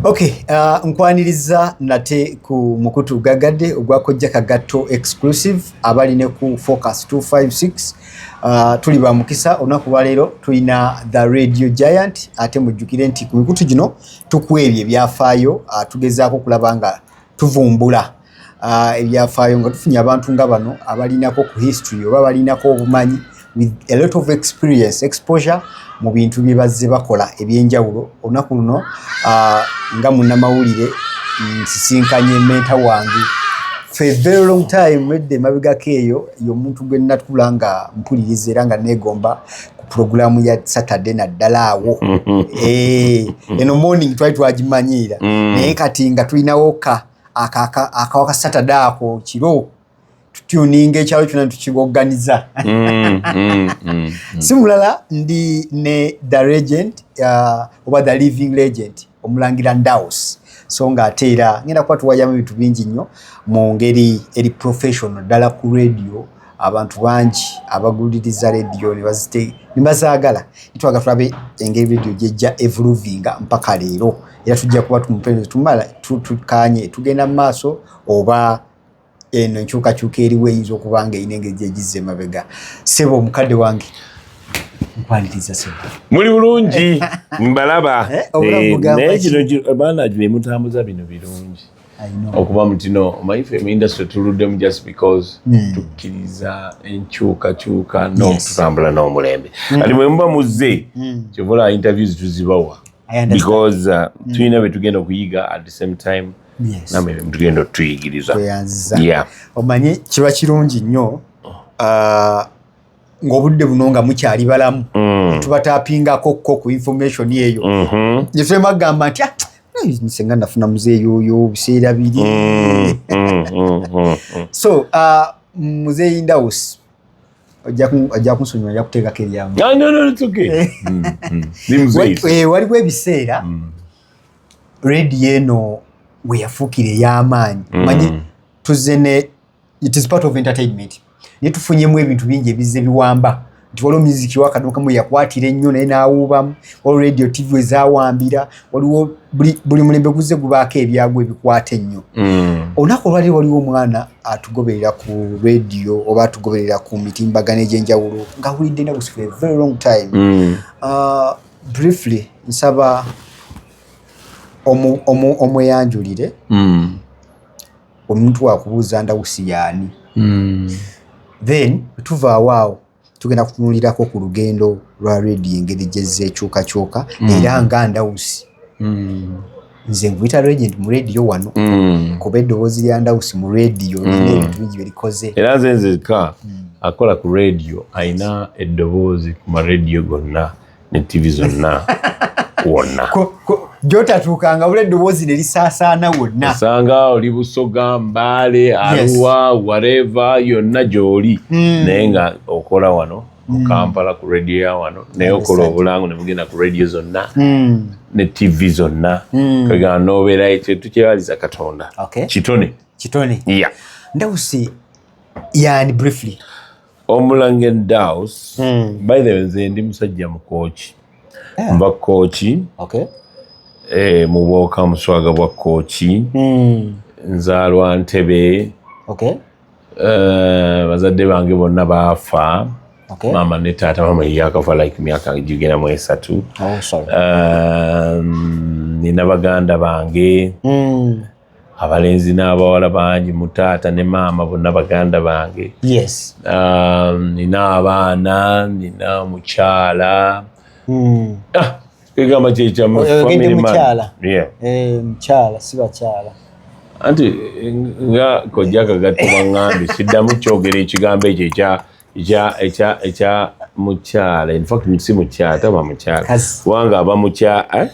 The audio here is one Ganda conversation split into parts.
Okay, uh, nkwaniriza nate ku mukutu gagadde ogwa kojja kagatto exclusive abali ne ku focus 256 uh, tuli ba mukisa olunaku lwa leero tulina the radio giant ate mujjukire nti ku mikutu gino tukwebye ebyafaayo uh, tugezaako okulaba nga tuvumbula uh, ebyafaayo nga tufunye abantu nga bano abalinako ku history oba balinako obumanyi with a lot of experience exposure mu bintu bye bazze bakola ebyenjawulo olunaku luno uh, nga munnamawulire nsisinkanye menta wange for a very long time edda emabegako eyo yomuntu gwe natula nga mpuliriza era nga negomba pulogulaamu ya saturday naddala awo eh, eno morning twali twagimanyiira mm. naye kati nga tulinawoka akawa ka saturday ako kiro tutuninga ekyalo kyona tukiboganiza mm, mm, mm, si mulala ndi ne the regent uh, oba the living legend omulangira ndaus so nga ate era ngenda kuba tuwayamu ebintu bingi nnyo mu ngeri eri professional ddala ku radio abantu bangi abaguliriza rediyo nebazaagala nitwaga tulabe engeri rediyo gyejja evuluvinga mpaka leero era tujja kuba tumupeereza tumala tukanye tugenda mu maaso oba eno enkyukakyuka eriwo eyinza okuba nga erina engeri gyegizza emabega sebo omukadde wange nkwaliriza sebo muli bulungi mbalaba eh, eh, naye kino baana gino emutambuza bino birungi okuba mutino omanyi fe muindustry tuluddemu just because hmm. tukkiriza enkyukakyuka nokutambula n'omulembe hmm. ati mwe muba muzze hmm. kyovola interviews tuzibawa because uh, tulina betugenda okuyiga at the same time namwe betugenda otuyigiriza omanyi kiba kirungi nnyo oh. uh, ng'obudde buno nga mukyali balamu mm. tubatapingako ko ku information eyo mm-hmm. netwema kugamba nti ah, senga nafuna muzeeyi oyo biseera biri mm, mm, so uh, muzeeyi ndawusi ajja kunsonyiwa ajja kuteekako eryamu waliwo ebiseera rediyo eno weyafuukira ey'amaanyi manyi tuzze ne it is part of entertainment naye tufunyemu ebintu bingi ebizze biwamba nti waliwo miziki wakadukamu yakwatira ennyo naye n'awuubamu waliwo radio tv ezawambira waliwo buli mulembe guzze gubaako ebyagwa ebikwata ennyo mm. olunaku olwali waliwo omwana atugoberera ku radio oba atugoberera ku mitimbagano egy'enjawulo ng'awulidde enaku for a very long time mm. uh, briefly nsaba omweyanjulire mm. omuntu wakubuuza ndawusi yaani hmm. then tuvaawo awo tugenda kutunulirako ku lugendo lwa redi engeri gyezza ekyukakyuka hmm. era nga ndawusi hmm. nze nkuyita regent mu rediyo wano kuba eddoboozi lya ndawusi mu rediyo nina ebintu bingi byerikoze era nze nzeka akola ku rediyo alina eddoboozi ku marediyo gonna ne ttivi zonna wonna gyotatuukanga bula eddoboozi ne lisaasaana wonna osanga oli busoga mbaale aluwa wareva yonna gy'oli hmm. naye nga okola wano mu hmm. kampala ku radio ya wano naye okola obulango ne mugenda ku radio zonna hmm. ne tv zonna kagana nobeera ekyo tukyebaliza katonda kitone kitone ndawusi yani briefly omulange daus hmm. by the way nze ndi musajja mukooki eh. nva kooki eh, mu bwoka muswaga bwa kooki hmm. nzaalwa ntebe eh, bazadde bange bonna baafa maama ne taata maama yeyakafa like myaka gigenda mu esatu oh, um, nina baganda bange hmm. abalenzi n'abawala bangi mu taata ne maama bonna baganda bange yes um, nina um, abaana nina omukyala hmm. ah, egamba kyekyamumukyala eh, eh, si bakyala anti nga kojja kagatta baŋŋambi siddamu kyogera ekigambo ekyo ekya mukyala infact si mukyala taba mukyala kubanga aba mukyala eh?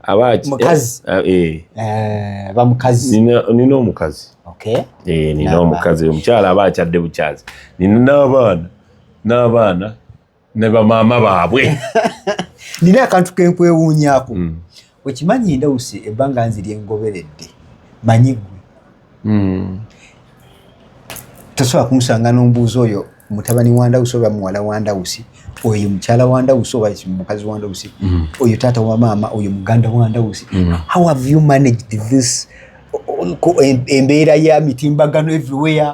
abaaki mukazi eh, eh. eh bamukazi nina omukazi okay eh nina omukazi omukyala aba akyadde bukyazi nina n'abaana n'abaana ne bamaama baabwe nina akantu kenkwewuunyako mm. okimanyi ndawusi ebbanga nziri engoberedde manyi gwe hmm. tosobola kunsanga n'ombuuzi oyo mutabani wa ndawusi oba muwala wa ndawusi oyo mukyala wa ndawusi oba mukazi wa ndawusi hmm. oyo taata wa maama oyo muganda wa ndawusi hmm. how have you managed this embeera ya mitimbagano everywhere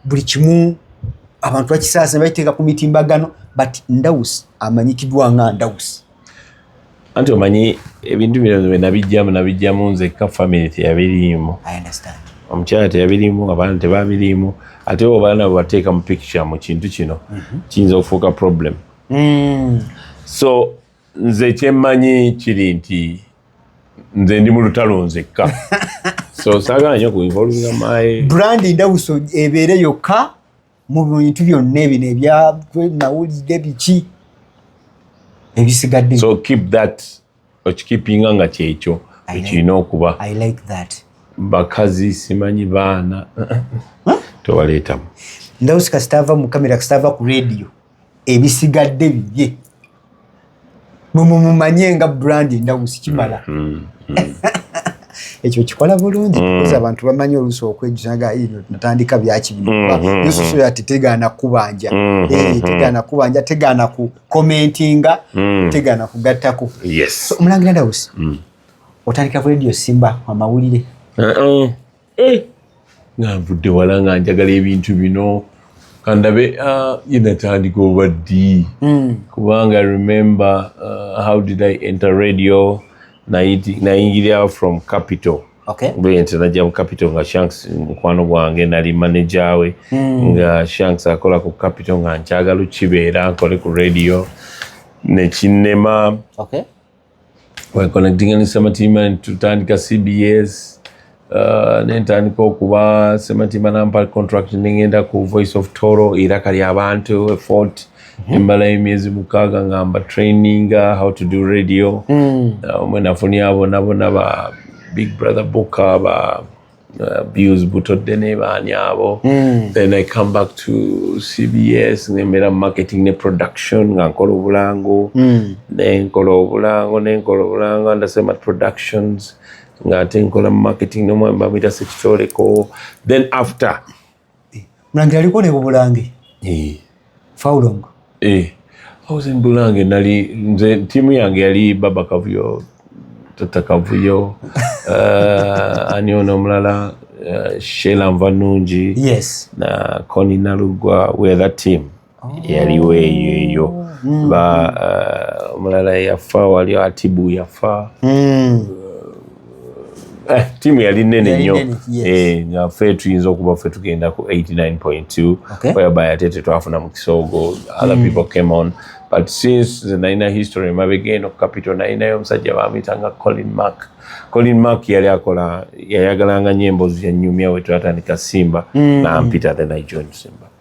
buli kimu abantu bakisaasa bakiteeka ku mitimbagano but ndawusi amanyikidwa nga ndawusi anti omanyi ebintu bino bwe nabijjamu nabijjamu nzekka famire teyabiriimu omukyala teyabiriimu abaana tebabiriimu ate obaana bwebateeka mu picture mu kintu kino mhm. kiyinza okufuuka problem mm. so nze kyemmanyi kiri nti nze ndi mu lutalo nzekka so sagala nyo ku involvinga my brand ndawuso ebeere yokka mu bintu byonna ebino ebyanawulidde biki ebisigadde so keep that okikipinga nga kyekyo ekirina okuba i like that bakazi simanyi baana tewaleetamu ndawusi kasitaava mu kamera kasitaava ku rediyo ebisigadde bibye mumumumanye nga brand endawusi kimala mm, mm, mm. ekyo kikola bulungi kuza abantu bamanyi oluusi okwejusa nga natandika byaki binoyosusu yati tegaana kubanja eh, tegaana kubanja tegaana ku commentinga tegaana kugattako omulangira ndawusi otandika ku radio simba amawulire uh-uh. eh, nga nvudde wala nga njagala ebintu bino kandabe ah, yenatandika oba ddi hmm. kubanga remember uh, how did i enter radio nayingirira from capital okay. bwente najja mu capital nga shanks mukwano gwange nali manaja we mm. nga shanks akola ku capital nga nkyagala okibeera nkole ku radio nekinema okay. wekonektinga sematimba netutandika cbs uh, nentandika okuba sematimba nampa contract nengenda ku voice of toro iraka lyabantu efort mhm. embala yemyezi mukaga ngamba traininga how to do radio mm. uh, mwenafunia bonabona ba big brother book ba Uh, views butodde nebaani abo mm. then i come back to cbs ngembeera marketing ne production nga nkola obulango mm. nenkola obulango nenkola obulango andasema productions nga ate nkola marketing nomwami bamuyita sekitoreko then after Eh, Mulangira aliko ne bubulange. Eh. Faulongo. Eh. Hauze mbulange nali nze timu yange yali baba kavuyo tata kavuyo uh, ani ono omulala uh, eh, Sheila Mvanungi yes. na Connie Nalugwa we that team yaliwo eyo eyo hmm. ba uh, omulala yafa wali atibu yafa hmm. uh, eh, tiimu yali nene nnyo eh, nga fe tuyinza okuba fe tugenda ku 89.2 whereby ate tetwafuna mu kisoogo other hmm. people came on but since the nalina history emabega eno capital nalinayo omusajja bamuyitanga colin mark colin mark yali akola yayagalanga nyo embozi yanyumya wetwatandika simba nampita then i joined simba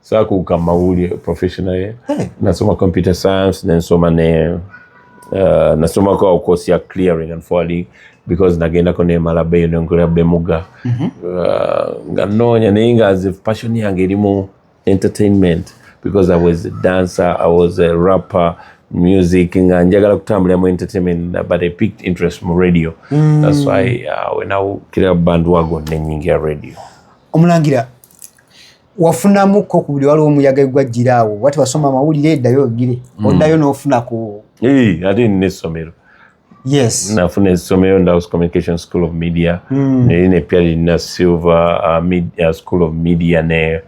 sakuuka mawulire professional ye hey. nasoma computer science nensoma ne uh, nasomako awo course ya clearing and forwarding because nagendako nemala beyo nenkolera bemuga mm -hmm. uh, nga noonya naye nga as if passion yange erimu entertainment because i was a dancer i was a rapper music nga njagala kutambulira mu entertainment but i picked interest mu radio mm. that's why uh, wenakira band wago nenyingira radio omulangira wafunamu ko ku buli waliwo omuyaga egwajjira awo wati wasoma amawulire eddayo ogire mm. oddayo n'ofuna ku ate nina essomero yes nafuna essomero ndaus communication school of media mm. neri ne pya lirina silver uh, media, uh, school of media ne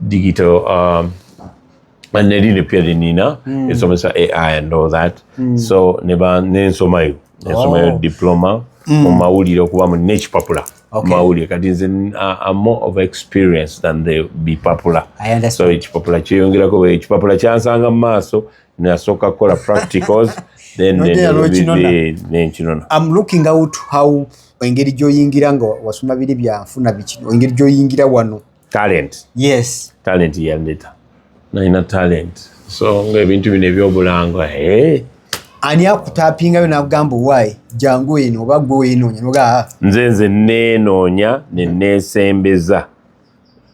digital um, nelino pia linina mm. esomesa ai and all that mm. so neba nensomayo nensomayo oh. diploma mm. mu mawulire okuba mu nekipapula okay. mawulire kati nze am more of experience than the bipapula so ekipapula kyeyongerako ekipapula kyansanga mu maaso nasooka kukola practicals then nenkinona am looking out how engeri gyoyingira nga wasoma biri byanfuna biki engeri gyoyingira wano talent yes talent yandeta nalina talent so nga ebintu bino ebyobulanga eh. ani akutapingayo nagamba owaye jangu eno oba gwe wenoonya noga ah. nze nze nenoonya nenesembeza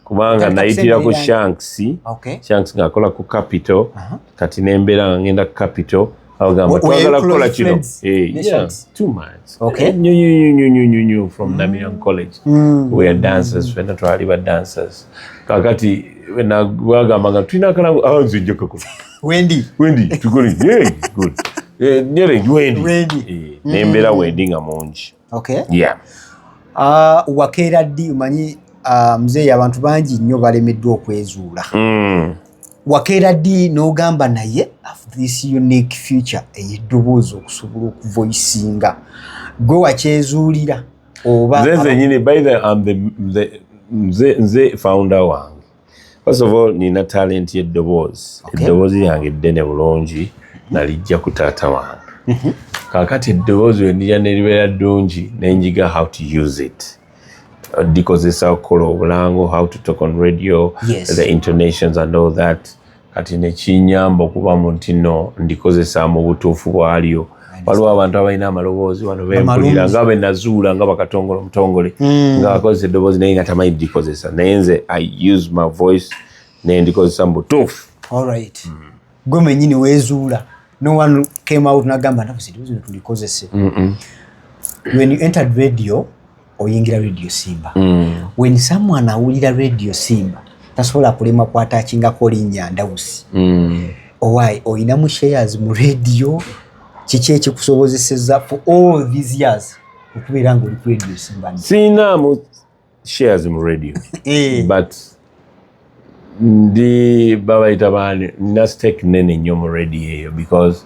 kubanga nayitira ku shanks okay. shanks ngaakola ku capital uh -huh. kati nembeera nga ngenda ku capital abagamba twagala kukola kino nyonyonyonyonyonyo from mm. namian college mm. were dancers fena twali ba dancers kakati bagamba nga tulina akalango ah, nze nja kakola wendi wendi tukole good eh, nyere wendi eh, nembeera mm. wendi nga mungi Okay. Yeah. Uh, wakeera ddi omanyi uh, mzeeyi abantu bangi nnyo balemeddwa okwezuula mm. wakeera ddi n'ogamba naye this unique future ey'eddoboozi okusobola okuvoisinga gwe wakyezuulira oba nze zenyini by the, um, the, the, nze, nze founder wange First of all, nina talent ye dobozi. Okay. Dobozi yange dene bulongi na lijja kutata wange. Mm -hmm. Kakati dobozi we nija nelibera dungi na njiga how to use it. Dikozesa okolo obulango, how to talk on radio, yes. the intonations and all that. kati nekinyamba okuba mu ntino ndikozesa mu butuufu bwalyo waliwo abantu abalina amaloboozi wano bempulira nga benazuula nga bakatongole omutongole hmm. nga akozesa eddoboozi naye nga tamanyi dikozesa naye nze i use my voice naye ndikozesa mu butuufu alright mm. gwe mwenyini wezuula no one came out nagamba nakuzidibuzi netulikozese when you entered radio oyingira radio simba mm. when someone awulira radio simba tasobola kulema kwatachingako linya ndawusi mm. owaye oyina mu shares mu radio kiki ekikusobozeseza for all these years okubeera nga oli ku radio simba sinamu shares mu radio eh. but ndi babayita baani nina stake nene nnyo mu radio eyo because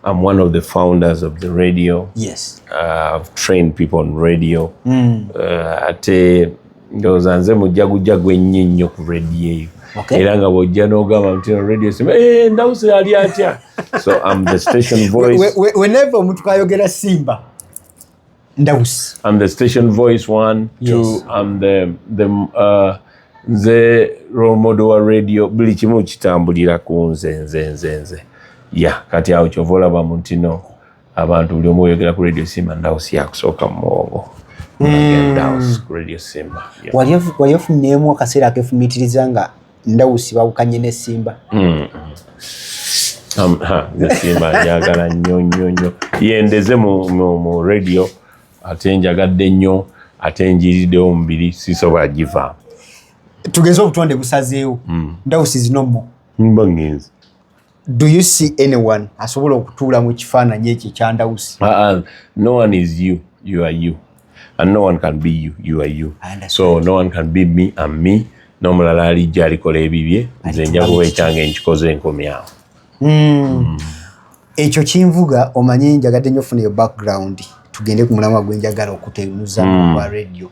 I'm one of the founders of the radio. Yes. Uh, I've trained people on radio. Mm. Uh, ate ndowooza nze mujja gujja gwennyi nnyo ku radio eyo. Okay. Era nga bw'ojja n'ogamba nti radio sima ee eh, ndawusi ali atya. So I'm the station voice. Whenever omuntu kayogera Simba. Ndaus. I'm the station voice one, yes. two, I'm the, the uh, nze role model wa radio buli kimu kitambulira ku nze nze nze nze ya kati awo kyova olaba mu ntino abantu buli omu oyogera ku radio simba ndausi yakusooka mu muwongo hmm. wali ofunyeemu akaseera akefumitiriza nga ndawusi bawukanye ne simba hmm. simba njagala nnyo nnyo nnyo yendeze mu radio ate njagadde nnyo ate njiriddewo omubiri sisobola giva tugeze obutonde busazeewo hmm. ndawusi zinomo mbagenzi do you see anyone asobola okutuula mu kifaananyi ekyo ekyandawusi uh, uh, no one is you you are you and no one can be you you are you so no one can be me am me n'omulala alijja alikola ebibye nze njakuba ekyange nkikoze enkomyawo hmm. hmm. ekyo kinvuga omanyi njagadde nyo funa eyo background tugende ku mulamwa gwenjagala okutenuza hmm. kwa radio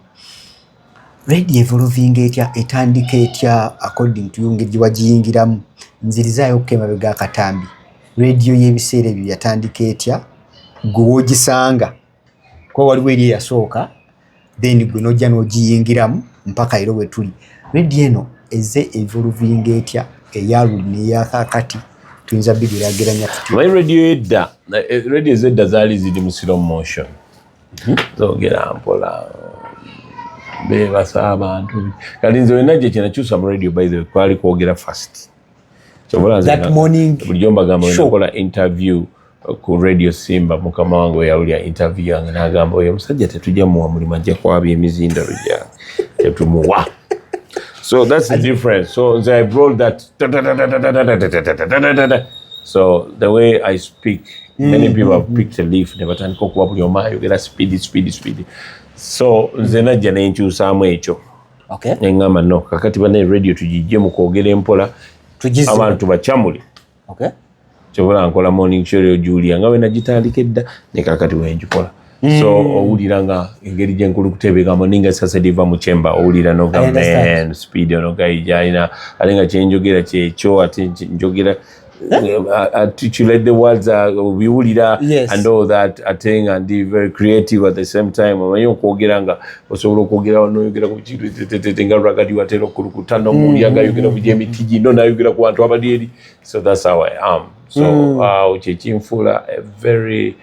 Red evolvinga etya etandika etya according to ngeri gye wagiyingiramu nzirizaayo okko emabega akatambi rediyo y'ebiseera ebyo yatandika etya gwe wogisanga kuba waliwo eri eyasooka then gwe nojja n'ogiyingiramu mpaka era wetuli rediyo eno eze evolvinga etya eyaluli neyakakati tuyinza bigerageranya tutya rediyo edda rediyo ezedda zaali ziri mu slow motion Mhm. zogera mpola bebasa abantu kati nze wena gye kyenakyusa mu radio by the way kwali kwogera fast bulijjo mbagamba wenakola interview uh, ku radio simba mukama wange weyawulira interview yange nagamba oyo omusajja tetujja muwa mulimu ajja kwaba emizindalo gyange tetumuwa so that's the difference so nze i brought that so the way i speak mm-hmm. many people have picked a leaf ne batandika okuba buli omu ayogera speed speed speed so nze najja ne nkyusaamu ekyo okay. ne ŋŋamba no kakati banaye radio tugijje mu kwogera empola abantu bacamuli okay. kyobola nkola morning show yo julia nga bwe nagitandika edda ne kakati bwe ngikola Mm. so owulira nga engeri gyenkulu kutebeekamu ninga esasedi eva mu kyemba owulira noga man speed ono gayi gyalina ate nga kyenjogera kyekyo ate njogera Eh? Uh, articulate the words uh, biwulira yes. and all that ate nga ndi very creative at the same time omanyi okwogera nga osobola okwogera noyogera ku kintu tetete nga lwagadi watera okulukuta nomuuli mm-hmm. agayogera ku gyemiti gino nayogera ku bantu abali eri so that's how i am so mm. uh, kyekinfuula a very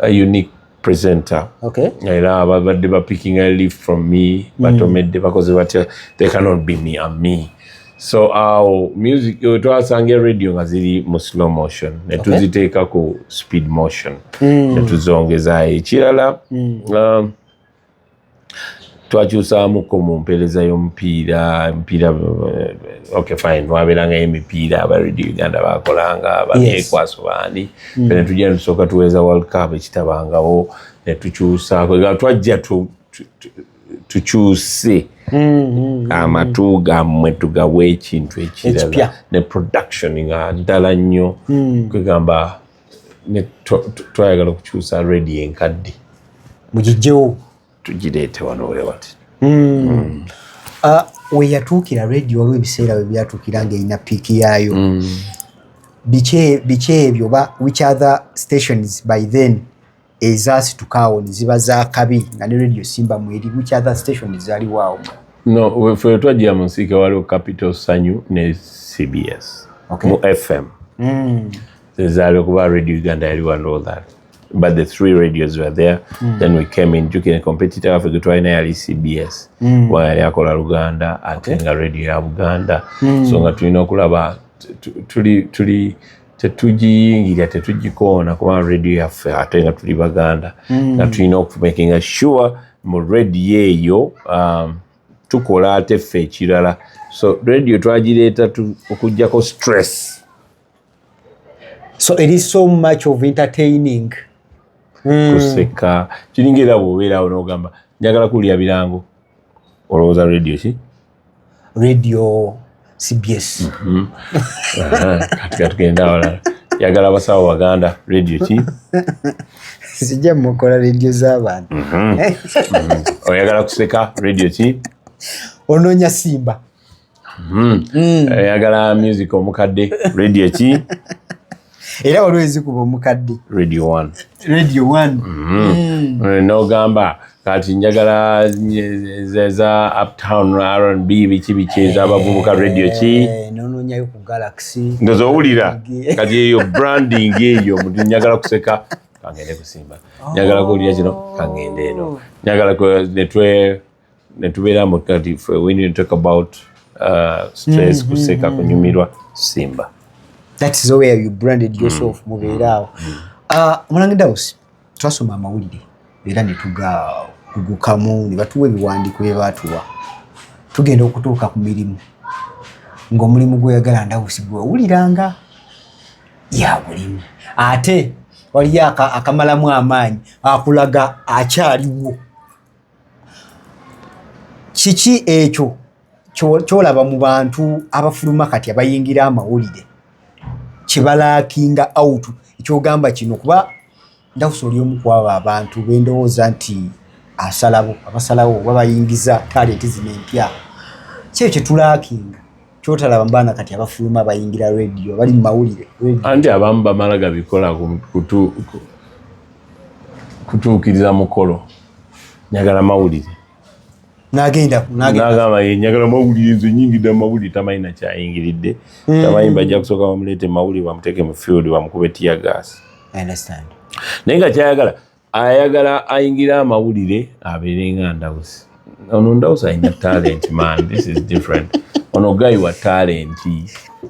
uh, unique presenter okay. era babadde ba picking a leaf from me mm. batomedde bakoze batya they cannot be me am me so awo uh, music uh, twasanga eradio nga ziri mu slow motion netuziteeka okay. ku speed motion mm. netuzongezaayo ekirala mm. um, twakyusaamuko mu mpeereza y'omupiira emipiira eh, ok fine wabeerangayo emipiira aba radio uganda bakolanga baneekwaso baani mm. fe netujja netusooka tuweeza world cup ekitabangawo netukyusaako twajja tukyuse mm-hmm. amatu gammwe tugawa ekintu ekirala ne production nga ddala nnyo mm. kwegamba twayagala okukyusa redi enkadde mugijjewo tugireete wano wewati hmm. hmm. ah, weyatuukira redi waliwo ebiseera we byatuukira ngaerina piiki yaayo hmm. biki ebyo oba which other stations by then ezasituka awo ne ziba za kabi nga ne radio simba mweri which other station zaliwo awo no fe twajja mu nsiike waliwo capital sanyu ne cbs okay. mu fm mm. zezaaliwo kuba radio uganda yali one all that but the three radios were there mm. then we came in jukine competitor waffe getwalina yali cbs mm. wa yali akola luganda ate okay. nga radio ya buganda mm. so nga tulina okulaba tuli tuli tetugiyingira tetugikoona kubanga radio yaffe ate nga tuli baganda hmm. nga tulina okumakinga sure mu radio eyo um, tukola ate ffe ekirala so radio twagireeta okugjako stress so it is so much of entertaining hmm. kuseka kiringa era bwobeerawo nogamba njagala kuwulira birango olowooza radio ki radio cbs mm-hmm. katika tugenda wala yagala abasawo baganda radio ki sijja mukola radio z'abantu mm-hmm. mm-hmm. oyagala kuseka radio ki onoonya simba mm. oyagala music omukadde radio ki era waliwo ezikuba omukadde radio one radio one mm-hmm. mm. eh, nogamba kati njagala za uptown rnb biki biki ezabavubuka radio ki eh, nononyayo ku galaxy ndoza owulira kati eyo branding eyo muti njagala kuseka kangende kusimba njagala kuwulira kino kangende eno oh. njagala netwe netubeera mbu kati fe we need to talk about uh, stress mm, kuseka mm, mm, kunyumirwa simba that is where you branded yourself mm, mubeera awo mm, uh, mulange dawusi twasoma amawulire era netugagugukamu ne batuwa ebiwandiiko bye baatuwa tugenda okutuuka ku mirimu ng'omulimu gweyagala ndawusi gwewuliranga ya bulimu ate waliyo akamalamu amaanyi akulaga akyaliwo kiki ekyo kyolaba mu bantu abafuluma kati abayingira amawulire kibalakinga out ekyogamba kino kuba ndakusa oli omu kwabo abantu bendowooza nti asalawo abasalawo oba bayingiza talenti zino empya kyeyo kyetulakinga kyotalaba mbaana kati abafuluma bayingira radio bali mumawulire anti abamu bamala gabikola kutuukiriza mukolo nyagala mawulire nagamba yenyagala mawulire nze nyingidde mumawulire tamanyi nakyayingiridde hmm. tamanyi bajja kusooka bamuleete mawulire bamuteeke mu field bamukube tiyagas naye nga kyayagala ayagala ayingira amawulire abeere nga ndawusi ono ndawusi alina talent man this is different ono gayi wa talenti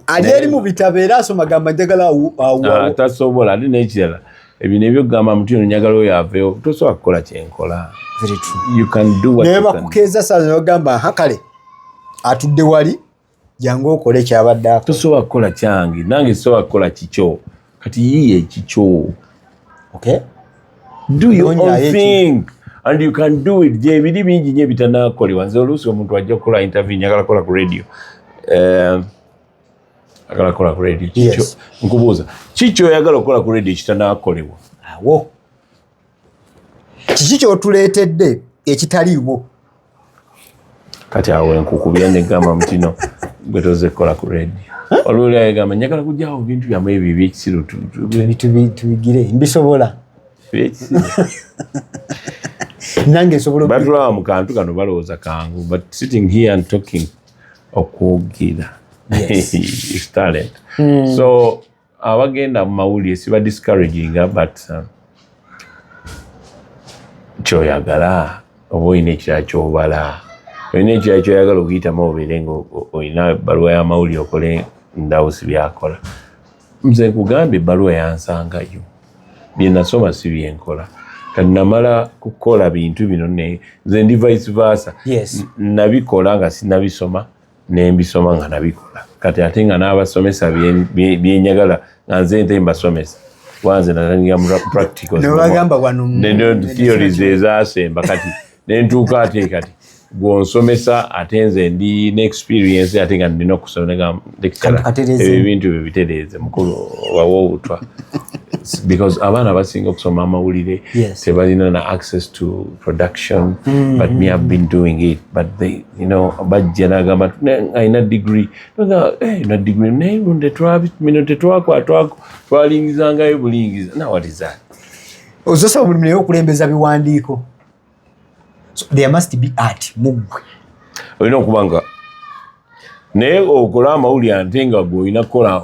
ali eri mu bitabo era asoma gamba njagala ah, tasobola ate nekirala ebyo nebyo kugamba muti ono njagala oyo aveewo tosobola kukola kyenkola naye bakukeeza saza nogamba ha kale atudde wali jangu okole kyabadde ako tosobola kukola kyange nange sobola kukola kikyo kati yiye ekikyo okay do your own thing eki. and you can do it gyebiri bingi nyo ebitanakolebwa nze oluusi omuntu ajja kukola interview njagala kukola ku radio um, agala kukola ku radio kikyo nkubuuza kikyo oyagala okukola ku radio kitanakolebwa awo kiki kyotuleetedde ekitaliiwo kati awo enkukubya negamba mutino gwe toze kukola ku radio olwoli ayegamba njagala kujjawo bintu byamu ebyo ebyekisiru tubigire mbisobola nange nsobolabatulawa mu kantu kano balowooza kangu but sitting here and talking okwogera talent hmm. so abagenda mu mawulire siba discouraginga but uh, kyoyagala oba olina ekirala kyobala olina ekirala kyoyagala okuyitamu obeere nga olina ebbaluwa y'amawulire okole ndawusi byakola nze nkugamba ebbaluwa yansangayo byenasoma si byenkola kanamala kukola bintu bino nze ndi vice versa nabikola nga sinabisoma nembisoma nga nabikola kati ate nga n'abasomesa byenyagala nga nze nte mbasomesa wanze natandika mupracticalstheories ezasemba kati nentuuka ate kati gwonsomesa ate nze ndi neexperience ate nga ndina okusomaebintu byo bitereeze mukulu wawa obutwa because abaana basinga okusoma amawulire tebalina na access to production mm-hmm. but me have been doing it but they you know bajja nagamba alina digiri nagamba eh, na digiri naye bino tetwakwata twalingizangayo bulingiza nawatiza ozosaba buli naye okulembeza biwandiiko there must be art muggwe olina okuba nga naye okola amawulire ante nga gwe olina kukola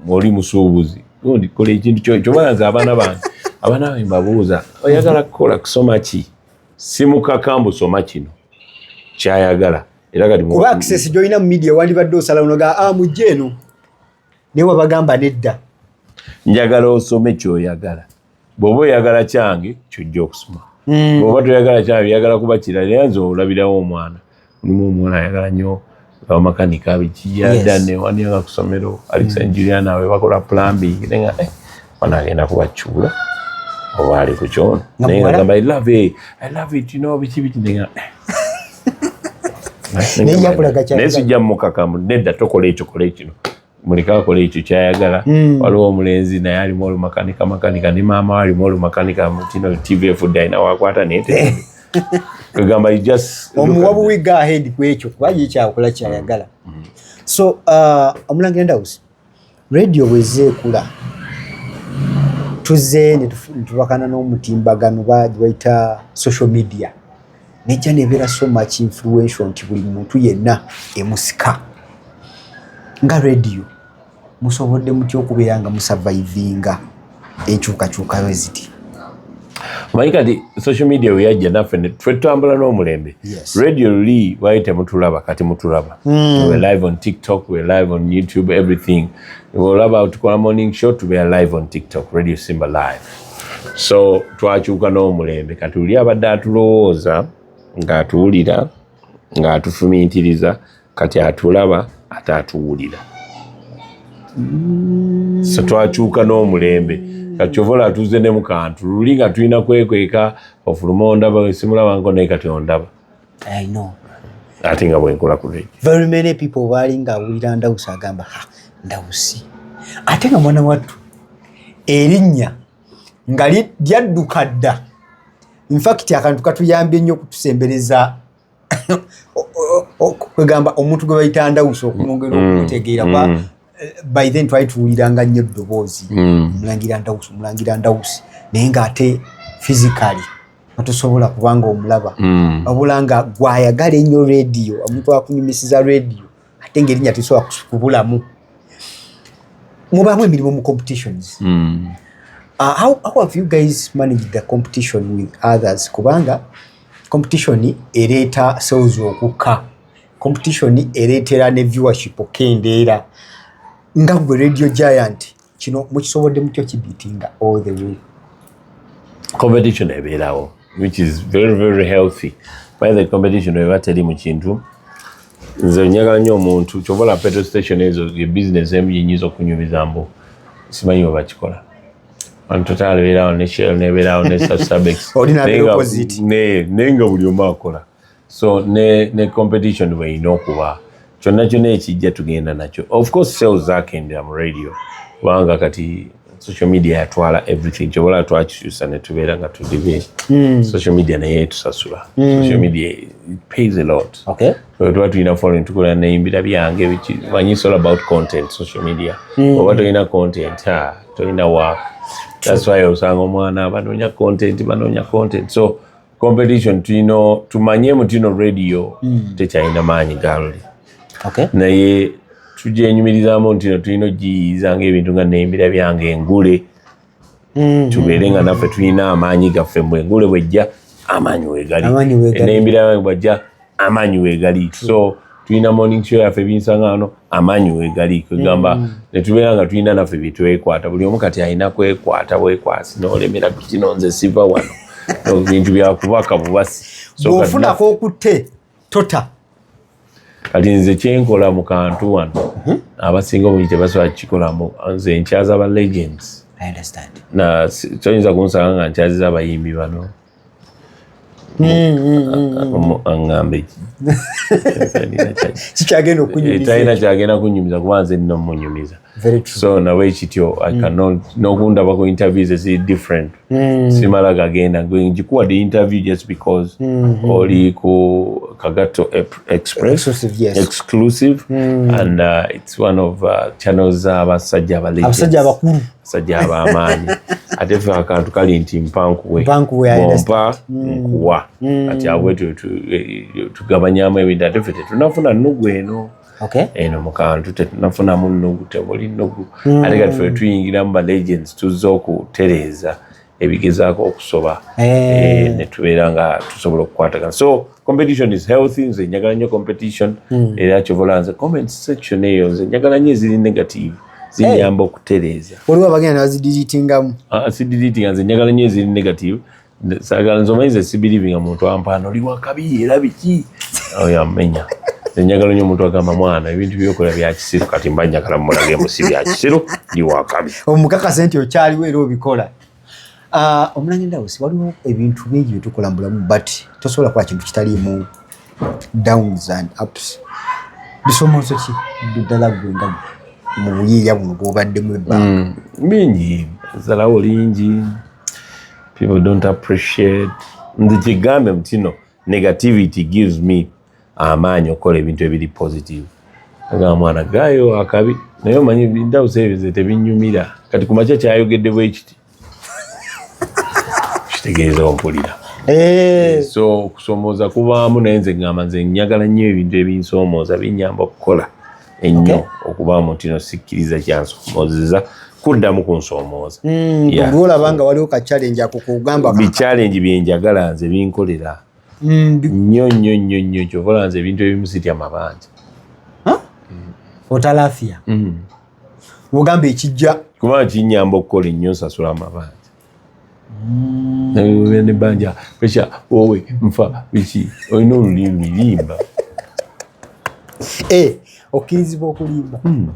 oli musuubuzi gundi kola ekintu kyo kyobalanze abaana bange abaana bange mbabuuza oyagala kukola kusoma ki simukaka mbu soma kino kyayagala era kati kuba access joina mu media wandibadde osala unoga ah mujje eno naye wabagamba nedda njagala osome kyoyagala bwoba oyagala kyange kyojja okusoma mm. bwoba toyagala kyange yagala kuba kirala era nze olabirawo omwana mulimu omuwala ayagala nyo abamakanika biki yada newani aga kusomero alisa mm. juliana we bakola plumbing nenga eh, wana agenda kubakyula oba ali ku kyono naye ngagamba i love it i love it you know biki biki nenga eh. naye sijja mukakamu nedda tokola ekyo kola ekino muleke akole ekyo kyayagala mm. waliwo omulenzi naye alimu olumakanika makanika ne maama we alimu olumakanika mutino tv efudde alina wakwata nete kwegamba omuwa buwiga ahead kwekyo kuba ye kyakola kyayagala mm. mm. so uh, omulangira ndawusi radio bweza ekula tuze netubakana n'omutimbagano bagibaita social media nejja nebeera so much influential nti buli muntu yenna emusika nga radio musobodde mutya okubeera nga musavaivinga enkyukakyukayo eziti omanyi kati social media weyajja naffe twe tutambula n'omulembe radio luli wali temutulaba kati mutulaba hmm. we live on tiktok we live on youtube everything olaba tukola morning show tubeera live on tiktok radio simba live so twakyuka n'omulembe kati oli abadde atulowooza ng'atuwulira ng'atufumintiriza kati atulaba ate atuwulira so twakyuka n'omulembe kakyovola atuuze ne mukantu luli nga tulina kwekweka ofuluma ondaba simulabanko naye kati ondaba I know. Ate nga bwenkola ku radio. Very many people baali nga awulira Ndawusi agamba ha Ndawusi. Ate nga mwana wattu erinnya nga lyadduka dda. In fact akantu katuyambye nnyo okutusembereza kwegamba omuntu gwe bayita Ndawusi okumwongera mm, okutegeera mm. eh, by then twali tuwuliranga nnyo eddoboozi mm. mulangira ndawusi mulangira ndawusi naye ng'ate physically atusobola kubanga omulaba mm. wabula nga gwayagala ennyo rediyo omuntu akunyumisiza rediyo ate ngaerinya tesobola kubulamu mubamu emirimu mu competitions mm. uh, how, how have you guys managed the competition with others kubanga competition ereeta sales okukka competition ereetera ne viewership okendeera nga gwe radio giant kino mukisobodde mutyo kibitinga all the way competition ebeerawo which is very very healthy by the competition eba teri mu kintu nze njagala nnyo omuntu kyova la petrol station ezo ye business emu yenyinza okunyumiza mbu simanyi webakikola antotal ebeerawo ne shell nebeerawo ne sasabex naye nga buli omu akola so ne ne competition we ino kuba chonna chonna ekijja tugenda nacho of course sales zake ndi am radio wanga kati social media ya twala everything chobola twa chisusa ne tubera nga tu divi mm. social media na yetu sasula mm. social media pays a lot okay so twa tu ina following tu kola ne imbira byange which when you all about content social media mm. oba to ina content ha to ina work that's why osanga mwana banonya content banonya content so competition tulina tumanye mutino radio mm. tekyalina maanyi galli okay. naye tugyenyumirizamu ntino tulina ogiyiyiza ngaebintu nga nembira byange engule mm. tubeere nga naffe tulina amaanyi gaffe mbwengule bwejja amaanyi wegali nembira yange bwajja amaanyi weegali so tulina morning show yaffe ebinsangano amaanyi weegali kwegamba mm. netubeera nga tulina naffe byetwekwata buli omu kati alina kwekwata bwekwasi nolemera kukino nze siva wano bintu byakubaka bubasi bwofunako okutte tota kati nze kyenkola mu kantu wano mhm. abasinga obungi tebasobola kukikolamu nze nkyaza ba legends toyinza kunsanga nga nkyaziza abayimbi bano aŋŋambe kikyagenda okunyumizatalina kyagenda kunyumiza kuba nze nno munyumiza so nawe ekityo mm. nokundaba ku interviews eziri different mm. simala gagenda ngikuwa the interview just because mm-hmm. oli ku kagatto express exclusive mm. and uh, it's one of uh, channels z'abasajja abalabasajja abakulu sajja abamaanyi ate fe akantu kali nti mpankuwempa mm. nkuwa mm. ati abwe tugabanyamu ebintu ate fe tetunafuna nugu eno eno mukantu tetunafunamu nugu temuli nugu mm. ate kati fe tuyingiramu ba legends tuzza okutereeza ebigezaako okusoba eh. Eh, netubeera nga tusobola okukwatagana so competition is healthy nze njagala nnyo competition hmm. era kyovola nze comment section eyo nze njagala nnyo eziri negative zinyamba eh. okutereeza waliwo abagenda nebazidilitingamu ah, sidilitinga nze njagala nnyo eziri negative sagala nze omanyize sibilivinga muntu ampaana oli wakabi era biki oyo amenya nze njagala nnyo omuntu agamba mwana ebintu byokola byaki kisiru kati mba njagala mulage mbu si bya kisiru ndi wa kabi omukakase nti okyaliwo era obikola ah, omulange ndawusi waliwo ebintu bingi bye tukola mu bulamu but tosobola kukola kintu kitaliimu downs and ups bisomozo ki ddala gwe nga mu buyiiya buno bwobaddemu ebbanga mm, bingi zalawo lingi people don't appreciate nze kigambe mutino negativity gives me amaanyi okukola ebintu ebiri positive agamba mwana gaayo akabi naye omanyi bindawusa ebyo ze tebinyumira kati ku makya kyayogedde bwekiti kitegeeza ompulira eh. so okusomooza kubaamu naye nze ngamba nze njagala nnyo ebintu ebinsomooza binyamba okukola ennyo okubaamu nti no sikkiriza kyansomoozeza kuddamu ku nsomooza hmm, olwolaba nga waliwo ka challenge akokugamba bi challenge byenjagala nze binkolera nnyo nnyo nnyo nnyo kyova olanze ebintu ebimu sitya mabanja otalafia mm. ogamba ekijja kuba kinyamba okukola ennyo nsasula amabanja mm. nawe ne banja pesha wowe nfa biki olina olulimi limba eh, okkirizibwa okulimba mm.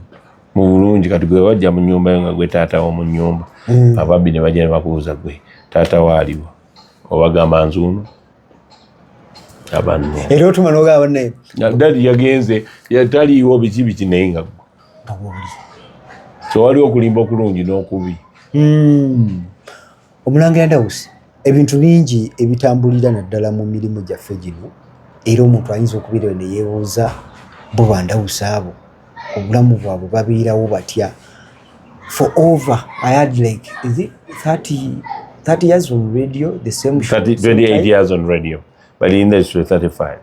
mu bulungi kati gwe wajja mu nyumba yo nga gwe taata wo mu nyumba mm. ababi ne bajja ne bakubuuza gwe taata waaliwo obagamba nzuuno abanne era otuma nogamba naye dadi yagenze yataliiwo biki biki naye nga tewali okulimba okulungi n'okubi hmm. omulangira dawusi ebintu bingi ebitambulira naddala mu mirimu gyaffe gino era omuntu ayinza okubeerayo ne yeebuuza bo bandawusi abo obulamu bwabwe babeerawo batya for over I had like is it 30 30 years on radio the same show 30, 28 years on radio but in the industry 35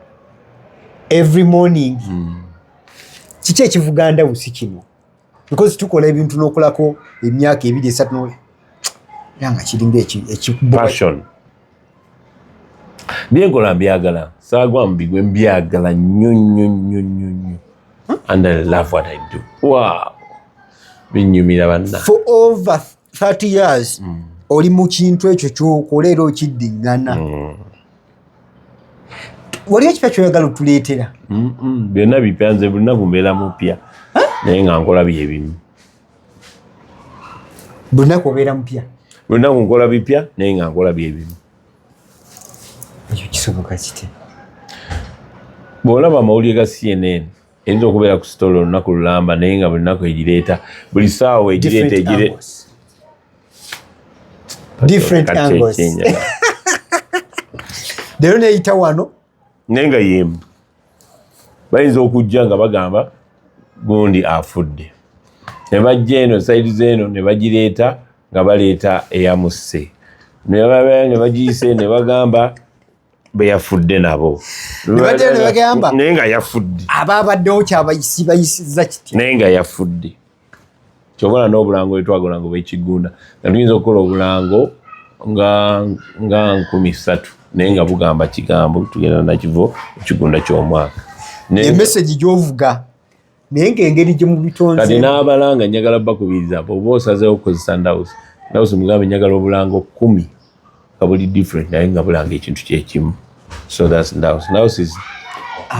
every morning mm. kiki ekivuga ndawusi kino because tukola ebintu n'okolako emyaka ebiri esatu yanga kiringa ekipassion byenkola mbyagala saagwamu bigwe mbyagala nnyo nnyo nnyo nnyo nnyo and i love what i do wow binyumira banna for over 30 years mm. oli mu kintu ekyo kyokola era okiddiŋŋana mm. waliwo ekipya kyoyagala otuleetera byonna bipya nze buli naku mbeera mupya naye nga nkola byebimu Bunaku obeera mupya. Bunaku nkola bipya naye nga nkola byebimu. Ekyo kisoboka kiti. Bw'olaba amawulire ga CNN eyinza okubeera ku sitolo olunaku lulamba naye nga buli naku egireeta buli saawa egireeta egire different angles. Lero neyita wano naye nga yemu bayinza okujja nga bagamba gundi afudde nebajja eno saidi zeeno nebagireeta nga baleeta eyamusse nebabaa nebagiyise nebagamba beyafudde nabo naye nga yafudde aba abaddewo kyabayisibayisiza kiti naye nga yafudde kyobala n'obulango bwetwagola ngo bwekigunda nga tuyinza okukola obulango nga nga nkumi ssatu naye nga bugamba kigambo tugenda nakivo ekigunda ky'omwaka emesegi gyovuga naye ngaengeri gye mubitonze kati n'abalanga njagala bakubiriza oba osazeewo okukozesa ndawusi ndawusi mugambe njagala obulango kumi nga buli different naye nga bulanga ekintu kyekimu so thats ndaus ndaus is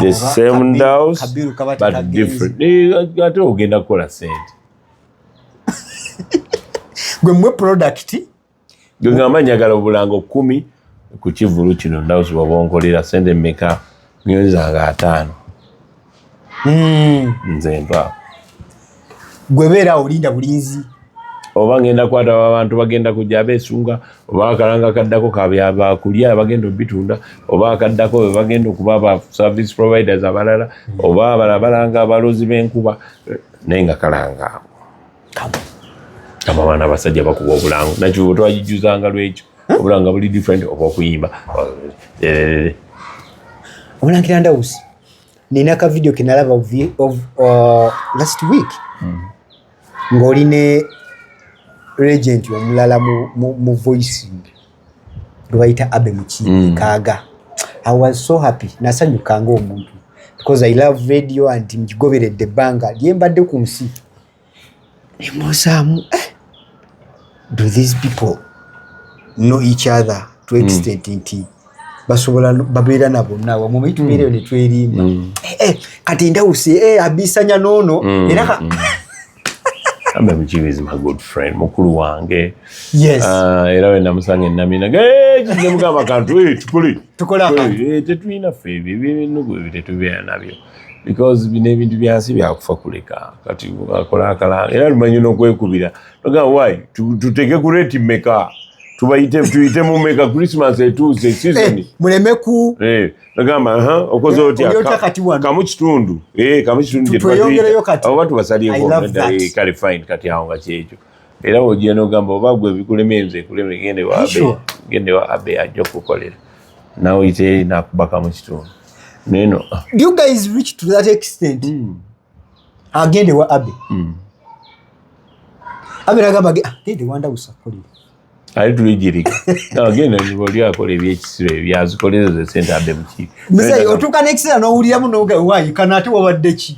the same ndaus but different eh, ate ogenda kukola sente gwe mwe product gwe ngamba njagala obulango kumi ku kivulu kino ndaus wabonkolera sente meka ngenza nga ataano Hmm. nze mpa gwe beera olinda bulinzi oba ngenda kwata abantu bagenda kujja abesunga oba akalanga kaddako kabyabakulya bagenda obitunda oba akaddako bebagenda okuba ba service providers abalala hmm. oba abala balanga abalozi benkuba naye nga kalanga abo abaana abasajja bakuba obulango nakibuba twagijuzanga lwekyo hmm? obulanga buli different oba okuyimba obulangira ndawusi nina ka video kenalaba of, of uh, last week mm. ng'oli ne regent omulala mu, mu, mu voice gwe bayita abe mukiibi mm. kaaga i was so happy nasanyukanga omuntu because i love radio and ngigoberedde ebbanga lyembadde ku nsi nemusaamu eh, do these people know each other to hmm. extent mm. nti basobola babeera na bonna wamu omanyi tubeera eyo hmm. netwerimba hmm. eh, eh, kati ndawusi eh, abisanya noono era ambe mukiba is my good friend mukulu wange yes. uh, era we namusanga enamina kizemugamba kantu tukole tetulina fe ebyo ebintu ebyo tetubeera nabyo because bino ebintu byansi byakufa kuleka kati akola akalanga era lumanyi nokwekubira noga why tuteke ku reti meka tubayite tuyite mu meka christmas etuuse season eh, muleme ku eh, nagamba ha okoze eh, otya kamu kitundu eh kamu kitundu je tweyongerayo kati abo batu basaliye ko nda eh, kale fine kati awo nga kyejo era ogiye nogamba obagwe bikulemenze kulemegende wa abe gende wa abe ajjo kukolera nawe oyite nakubaka mu kitundu neno ah. you guys reach to that extent mm. agende wa abe mm. abe nagamba ah, gende wanda usakolera ali tulijirika agenda niboli akola ebyekisiro ebyazikolera ze sente adde mukiiko muzeyi otuuka n'ekiseera n'owuliramu noga wayi kana ate wabadde ki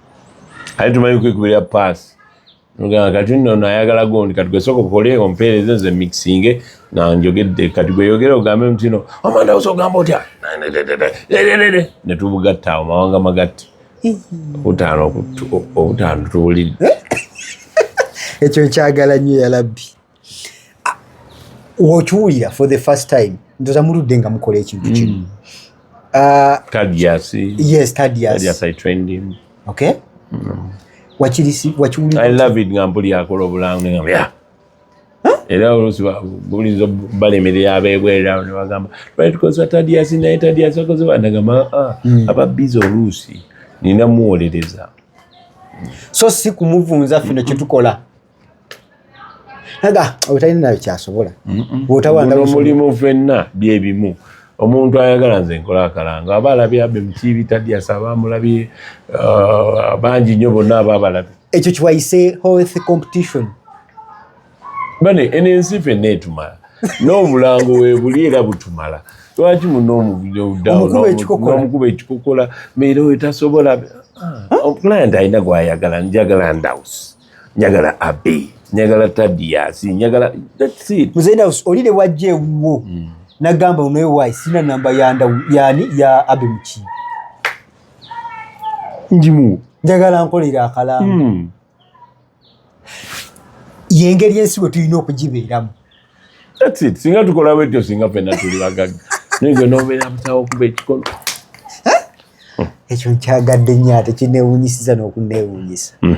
Aye tumanyi kwekubira paasi. Nga kati nno nayagala gundi kati gwesoka okole ompeereze nze mixinge nga njogedde kati gweyogere ogambe nti no amanda osa ogamba otya ne tubugatta awo mawanga magatte obutaano obutaano tuwulidde ekyo nkyagala nnyo yalabbi wokiwulira for the first time ndoza muludde nga mukola ekintu kino mm. ah, wakiwulirngambuliakola mm. obulango era olusi buliza balemerera abebwerera nebagamba twali tukozesa tadiasi naye tadiasi akoze banagamba ah, mm. aba biza oluusi nina muwolereza so si kumuvunza fino kyetukola aga obutalina nabyo kyasobola bwotawandaomulimu fenna byebimu omuntu ayagala nze nkola akalango aba alabye abe mukiibi tadiasa aba amulabye uh, bangi nnyo bonna aba abalabye ekyo kiwayise health competition bane eno ensi fenna etumala n'obulango webuli era butumala lwaki munomukuba ekikokola meera oyo tasobola ah, client alina gwayagala njagala ndawusi njagala abe njagala tadias njagala muzenda olire wajja ewuwo hmm. nagamba unoewayi sina namba yani ya abe mukiibi njimu njagala nkolere akalamu hmm. yengeri ensi bwe tulina okugibeeramu singa tukola bwetyo singa fena tuli bagagga naye gwe nobeera musawo okuba ekikolo ekyo nkyagadde nyo ate kinewunyisiza n'okunewunyisa hmm.